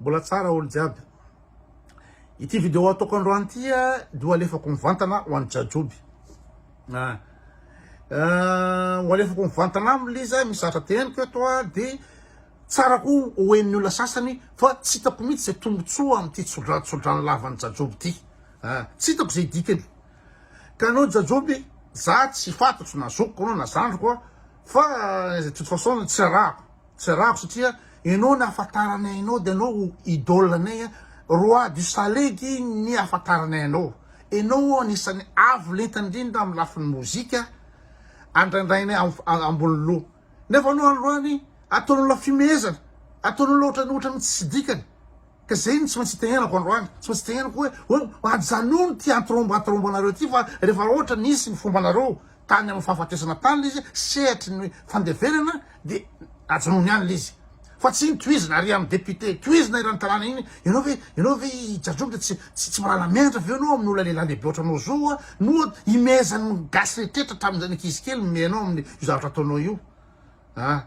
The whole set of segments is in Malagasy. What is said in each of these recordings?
Mbola tsara olo jiaby. Ity vidéo ataoko androany ity dia ho alefako mivantana ho an'i Jajoby. Ah. Euh, ho alefako mivantana aminy ilay izy, misy zavatra teneniko eto dia tsara koa ho hen'ny olona sasany fa tsy hitako mihitsy izay tombontsoa amin'ity tsodrantsodrano lavan'i Jajoby ity. Ah. Tsy hitako izay dikany. Ka anao Jajoby, za tsy fatatro na zokiko anao na zandriko fa de toute façon tsy arahako. Tsy ravo satria enao ny ahafantaranay anao dia enao ho idole anay a! Roi du salegy ny ahafantaranay anao! Enao anisan'ny avo lenta indrindra amin'ny lafiny mozika andrandrainay ambony loha! Nefa anao androany ataon'olona fimehezana! Ataon'olona ohatran'ny ohatran'ny tsy dikany! Ka zay no tsy maintsy itenenako androany, tsy maintsy itenenako hoe oh, ajanony ty antrombatromba anareo ty fa rehefa ohatra nisy ny fombanareo tany amin'ny fahafatesana tany le izy sehatry ny fandevenana de ajanony any le izy fa tsy iny tohizina ary amin'ny député tohizina eran'ny tanàna iny ianao ve ianao ve i jajombo de tsy tsy tsy mahalala miandra avy eo ianao amin'ny olona lehilahy lehibe ohatranao zao a noa imehezan'ny gasy rehetra hatramin'izay ny ankizy kely mimehy anao amin'ny io zavatra ataonao io a!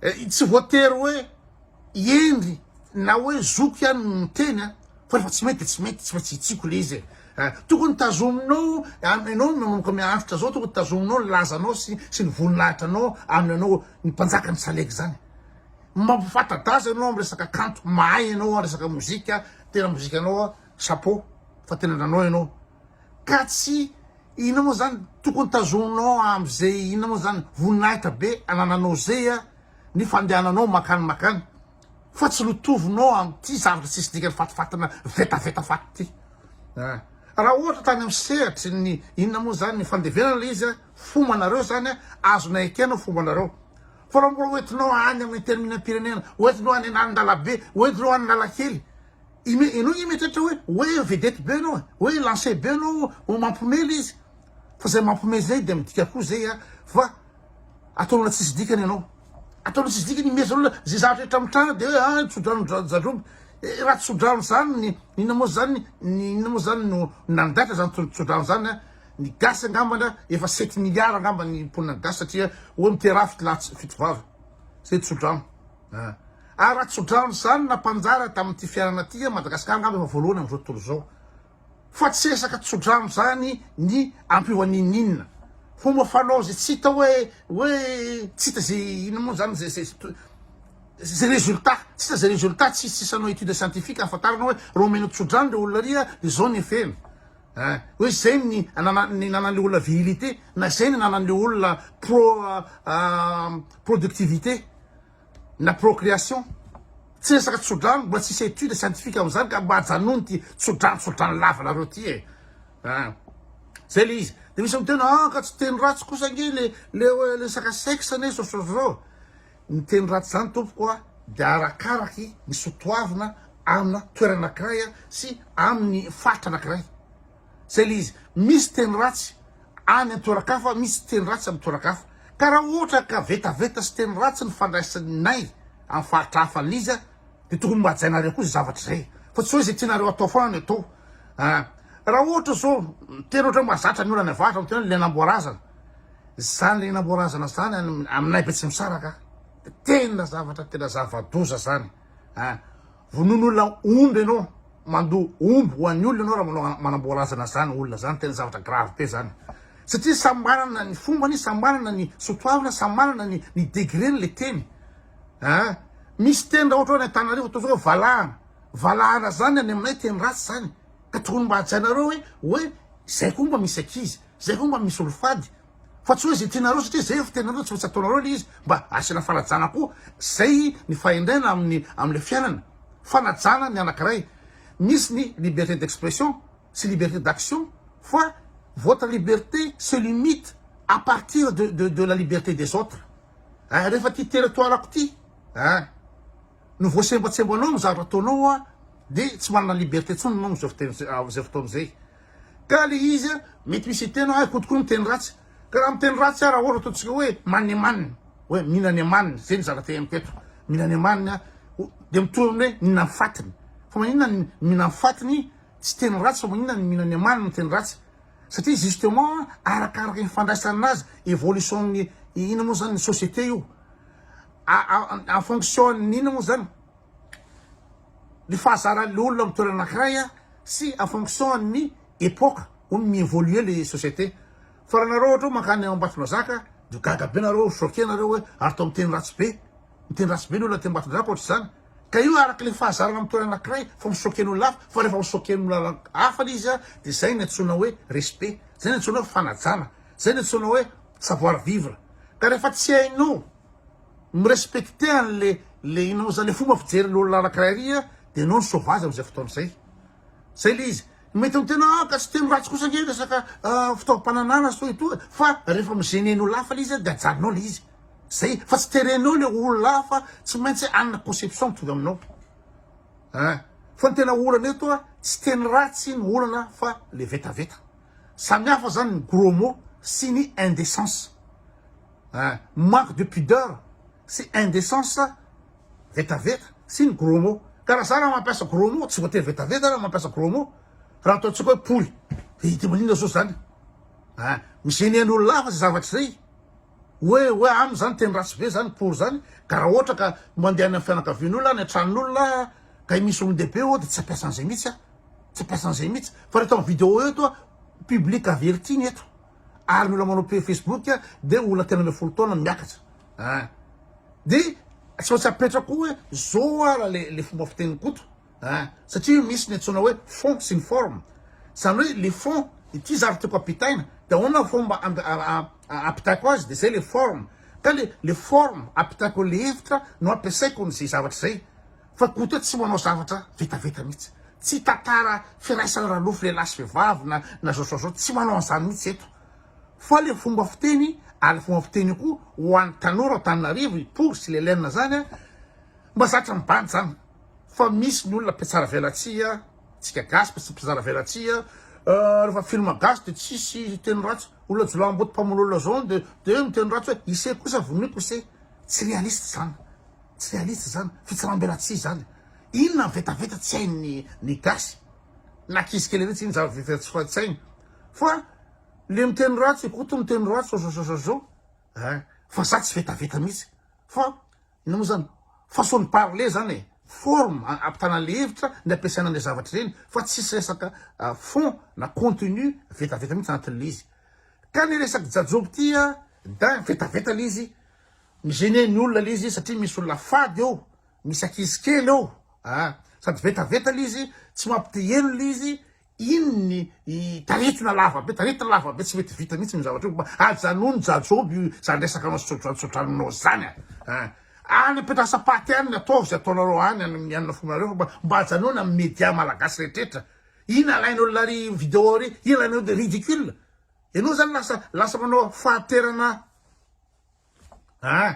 Eh, tsy voatery hoe hendry na hoe zoky ihany no miteny a! Fa rehefa tsy mety dia tsy mety, tsy maintsy hitsiko le izy e! Tokony tazominao, ianao manomboka miahotra zao tokony tazominao ny lazanao sy sy ny voninahitranao amin'ny anao ny mpanjaka ny salegy zany. Mampifata-daza ianao amin'ny resaka kanto, mahay ianao resaka mozika, tena mozikanao chapeau fa tena nanao ianao. Ka tsy inona moa zany tokony tazoninao am ze inona moa zany voninahitra be anananao zey a ny fandehananao makany makany fa tsy lotovinao am ty zavatra tsisy dikany fatifatina vetaveta faty ty a! Raha ohatra tany am sehatry ny inona moa zany ny fandevenana le izy a fombanareo zany a azonay ekena fombanareo fa raha mbola hoentinao any am interminam-pirenena hoentinao any an'andalabe hoentinao any analakely Ime, enao nge mieritreritra hoe hoe vedette be enao e, hoe lance be enao ho mampome le izy. Fa zay mampome zay dia midika koa zay a fa ataon'olona tsisy dikany enao. Ataon'olona tsisy dikany imerzan'olona zay zavatra rehetra mitranga dia hoe ah tsodrano dra- jadroby. Eh, raha tsodrano zany ny inona moa zany ny inona moa zany no nandaitra zany tso- tsodrano zany a. Ny gasy angambany a efa sept milliards angambany ny mponina gasy satria hoe miteraha fito lahy tsy- fito vavy. Zay tsodrano. Ary Ratsodrano izany nampanjary tamin'ity fiainana ity i Madagasikara angamba efa voalohany amin'izao tontolo izao. Fa tsy resaka tsodrano izany ny ampiova n'inon'inona. Fomba fanao izay tsy hita hoe hoe tsy hita izay inona moa izany izay izay izay résultat, tsy hita izay résultat, tsy tsisy hanao étude scientifique hahafantarana hoe raha omenao tsodrano ilay olona ary dia izao ny effet-ny. Ein, hoe izay ny anana ny anan'ilay olona virilité na izay ny anan'ilay olona pro productivité. na procreation tsy resaka tsodrano mbola tsisy étude scientifique amin'izany ka mba ajanony ty tsodrano tsodrano lavanareo ty e ah zay le izy de misy miteny ah ka tsy teny ratsy kosa ange le le resaka sexe ne sososo ny teny ratsy zany tompoko a de arakaraky ny sotoavina amina toerana anankiray sy amin'ny faritra anankiray Zay le izy. Misy teny ratsy any an-toeran-kafa, misy teny ratsy amin'ny toeran-kafa. Ka raha ohatra ka vetaveta sy teny ratsy nifandraisanay amin'ny faritra hafa an'i Liza, dia tokony mba hajainareo koa izay zavatra izay. Fa tsy hoe izay tianareo atao foana no atao. An! Raha ohatra izao, tena ohatran'ny mahazatra ny olana avahatra amin'ity hoe le namboarazana. Izany le namboarazana izany any aminay Betsimisaraka, dia tena zavatra tena zava-doza izany. An! Vonono olona omby ianao, mandoa omby ho an'ny olona ianao raha manao manamboa razana izany olona izany, tena zavatra grave be izany. Satria samy manana ny fombany, samy manana ny soatoavina, samy manana ny ny degreny ilay teny ah. Misy teny raha ohatra hoe any Antananarivo ataontsika hoe valahana, valahana izany any aminay teny ratsy izany, ka tokony mba hajainareo hoe hoe izay koa mba misy ankizy, izay koa mba misy olom-fady. Fa tsy hoe izay tianareo satria izay efa tenanareo tsy maintsy ataonareo ilay izy mba asiana fanajana koa izay ny fahendrena amin'ny amin'ilay fiainana. Fanajana ny anankiray. Misy ny liberté d'expression sy liberté d'action fa votre liberté se limite à partir de de de la liberté des autres. Ay rehefa ity territoire-ko ity ay no voasembatsembanao amin'ny zavatra ataonao dia tsy manana liberté intsony ianao amin'izao fotoana izay. Ka le izy a mety misy hiteny hoe koto koa miteny ratsy ka raha miteny ratsy ara ohatra ataontsika hoe manina emaniny hoe mihinana emaniny zay ny zavatra henoko eto mihinana emaniny a dia mitovy amin'ny hoe mihinana ny fatiny fa maninona ny mihinana ny fatiny tsy teny ratsy fa maninona ny mihinana emaniny no teny ratsy satria justement arakaraka ny fandraisana azy évolution ny inona moa zany ny société io en fonction ny inona moa zany ny fahazaran'ilay olona amin'ny toerana anankiray sy en fonction an'ny epoque hono mi-evoluer ilay société fa raha nareo ohatra hoe mankany Ambatondrazaka dia gaga be nareo choqué nareo hoe ary atao miteny ratsy be miteny ratsy be ny olona aty Ambatondrazaka ohatr'izany ka io araka ilay fahazarana amin'ny toerana anankiray fa mi-choqué ny olona hafa fa rehefa mi-choqué ny olona hafa ilay izy dia izay no antsoina hoe respect izay no antsoina hoe fanajana izay no antsoina hoe savoir vivre ka rehefa tsy hainao mi-respecter anle le inao zany le fomba fijerin olona anakiray ary a de enao ny sauvage amzay fotoana zay zay le izy mety am tena a ka tsy teny ratsy kosa nge resaka fitaovampananana sy toy toa fa refa mi gene ny olona hafa le izy a de ajalinao le izy zay fa tsy terenao le olona hafa tsy maintsy hanana conception mitovy aminao a fa ny tena olana eto a tsy teny ratsy no olana fa le vetaveta samy hafa zany ny gros mot sy ny indecence Eh! Manque de pudeur sy indecence vetaveta sy ny gros mot. Ka raha za raha mampiasa gros mot tsy voatery vetaveta raha mampiasa gros mot. Raha ataontsika hoe poly eh! Dia maninona zo zany? Eh! Mi-gener ny olona hafa zay zavatra zay. Hoe hoe aminy zany teny ratsy be zany poly zany. Ka raha ohatra ka mandeha any amin'ny fianakavian'olona, any an-tranon'olona ka misy olon-dehibe eo dia tsy ampiasa an'izay mihitsy aho. Tsy ampiasa an'izay mihitsy. Fa raha eto amin'ny video eto, public averti ny eto. ary ny olona manao page Facebook dia olona telo ambin'ny folo taona miakatra ah dia tsy maintsy apetrako hoe zao ara le le fomba fiteny koto ah satria misy ny antsoina hoe fond sy ny forme izany hoe le fond ity zavatra tiako ampitaina dia ahoana ny fomba ampitaiko azy dia zay le forme ka le le forme ampitaiko le hevitra no ampiasaiko ny zay zavatra zay Fa Gote tsy manao zavatra vetaveta mihitsy. Tsy tantara firaisana ralofo lehilahy sy vehivavy na na zao sa zao, tsy manao an'izany mihitsy eto. Fa le fomba fiteny ary le fomba fiteny io koa ho an'ny tanora ao Antananarivo, i Pour sy Lelena zany a, mba zatra mibandy zany. Fa misy ny olona mpiatsara velatsihy, tsika gasy mpias- mpizara velatsihy, rehefa film gasy de tsisy teny ratsy, olona jiolahimboto mpamono olona zao de de miteny ratsy hoe ise kosa vonoiko ise. Tsy realiste zany. Tsy realistes izany, fitsaram-belatsihy izany. Inona ny vetaveta tsy hain'ny ny gasy. Na ankizy kely ireny tsy inona izany vevera tsy fa tsy hainy. Fa le miteny ratsy i Koto miteny ratsy ozozozozo eh fa za tsy vetaveta mihitsy fa inona moa izany façon de parler izany e, forme hampitana le hevitra ny ampiasaina an'le zavatra ireny fa tsisy resaka fond na contenu vetaveta mihitsy anatin'le izy. Ka le resak'i Jajoby ity a, dain vetaveta le izy. Mi gêner ny olona le izy satria misy olona fady eo, misy ankizy kely eo ah, sady vetaveta le izy, tsy mampiteheno le izy, iny ny taretina lava be, taretina lava be tsy mety vita mihitsy ny zavatra io, mba ajanony jajoby io zany resaka anao sodranosodraninao zany ah, any am-piandrasam-paty any ny ataovy zay ataonareo any any amina fonareo fa mba mba ajanony amin'ny media malagasy rehetrrehetra, iny alainao la ry video ry, iny alainao de ridicule, ianao zany lasa lasa manao fahanterana. Ah!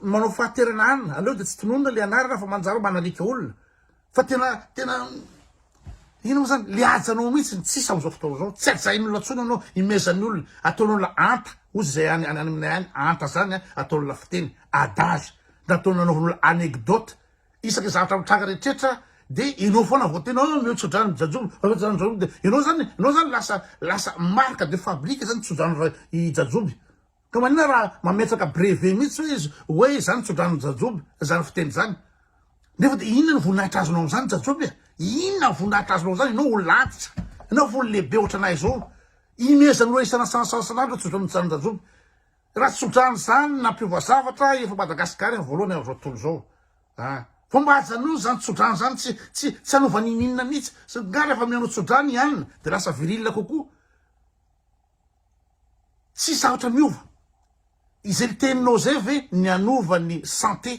Manao fahaterana anina, aleo dia tsy tononina le anarana fa manjary manalika olona. Fa tena tena ino moa zany le hajanao mihitsy ny tsisa amin'izao fotoana izao. Tsy hajain'olona tsony anao, imezan'ny olona, ataon'olona anta, ozy izay any any aminay any, anta zany ataon'olona fiteny, adage, na ataon'olona anaovan'olona anecdote. Isaka zavatra mitranga rehetrretra de enao fona vao tena hoe omeo tsodrano ny jajomby omeo tsodrano ny jajomby de enao zany enao zany lasa lasa marque de fabrique zany tsodrano ra i jajomby ka manina raha mametraka brevet mitsy hoe izy hoe zany tsodrano ny jajomby zany fiteny zany nefa de inona ny voninahitra azonao amzany jajomby a inona voninahitra azonao zany enao olona antitra enao olona lehibe ohatranay zao imezanao isanasanasanandro tsodrano ny jajomby Raha tsy otrany zany nampiova zavatra efa Madagascar ny voalohany amin'izao tontolo izao a! Vao mba ajanony zany tsodrano zany tsy tsy tsy hanova n'ininona mihitsy sa nga rehefa mihaino tsodrano i Ann de lasa virile kokoa? Tsy sarotra miova. Izay niteninao zay ve ny hanova ny santé?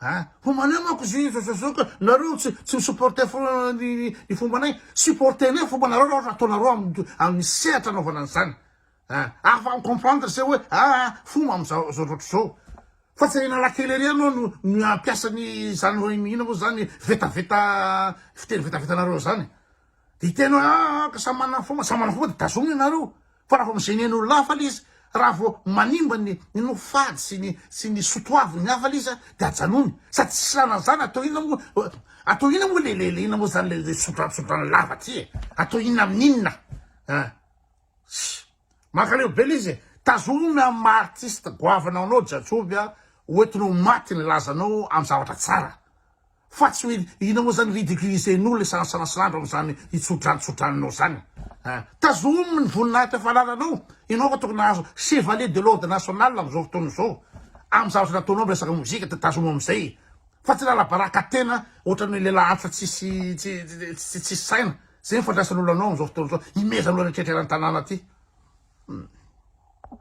Ah! Homanay manko izy io zozozoka, nareo tsy tsy mi-supporter foana ny ny fombanay, supporter-nay ny fombanareo raha ohatra ataonareo amin'ny amin'ny sehatra anaovana an'izany. Ah! Afa mi-comprendre zay hoe aa fomba amin'izao zao loatra izao. Fa tsy Analakely ery ianao no no hampiasa ny izany hoe inona moa izany vetaveta fiteny vetavetanareo izany. Dia hiteny hoe aa ka samy manana ny fomba, samy manana fomba dia tazomina ianareo. Fa raha vao amin'izay ny ain'olona hafa ilay izy, raha vao manimba ny nofo fady sy ny sy ny soa toavin'ny hafa ilay izy dia ajanony. Sady tsy salan'izany atao inona moa atao inona moa le le le inona moa izany le le sodranosodrano lava ity e? Atao inona amin'inona a? Ssy! Mankaleo be ilay izy e! Tazomy amin'ny maha artiste goavana anao Jajoby a, hoentinao ho maty ny lazanao amin'ny zavatra tsara. Fa tsy mil ina moa zany ridiculiser ny olona isalasalasy andro amzany itsodrantsodranonao zany a! Tazomy ny voninahitra efa anananao, enao fa tokony nahazo chevalier de l'ordre national amzao fotoana zao am zavatra nataonao am resaka mozika de tazomy amzay fa tsy lalabaraka tena otrany lelah antitra tsisy tsy tsy tsisy saina, zay ny fandraisanolo anao amzao fotoana zao, imezanolo any an-tretra eran-tanàna aty.